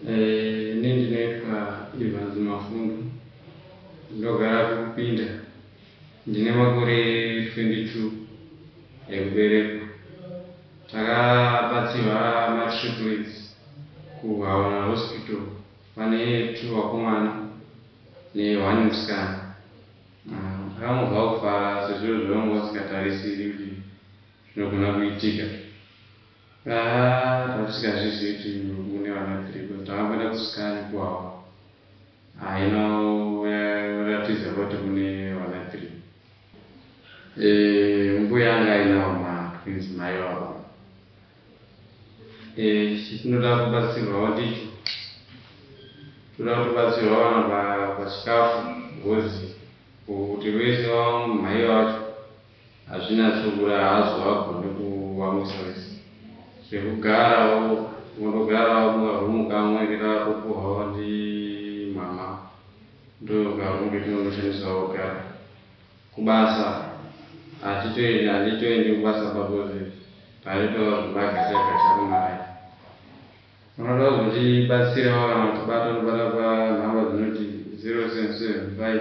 Eh, ini ndinoitwa Evans Mafundu, ndogara kuKupinda, ndine makore 22 ekuberekwa. Takabatsirwa matriplets kuHawana Hospital, pane two vakomana neone musikana. Takangonzwa ah, kufara sezvo zvavanga vasingatarisiri kuti zvinogona kuitika. Haa tatisingazvizivi kuti mune vana three coz takamboenda kuscan kuwawa haina yoratidza kuti mune vana three eh, mbuya anga ainawo matwins mai vava eh, chinoda kubatsirwawo ndicho toda kutobatsirwa vana pachikafu gozi kuti vese vamhai vacho Hazvina chokura hazvo hagone kuwamwisa vese zvekugara motogara muka room kamwe kekaropuhwawo ndi mama ndoka room ketinongoshandisa oga kubasa hatitoendi handitoendi kubasa pakozi paitova zvemagacha gacha kumaraini unoda kuzotibatsirawo kana kutibata unobata panhamba dzinoti 0775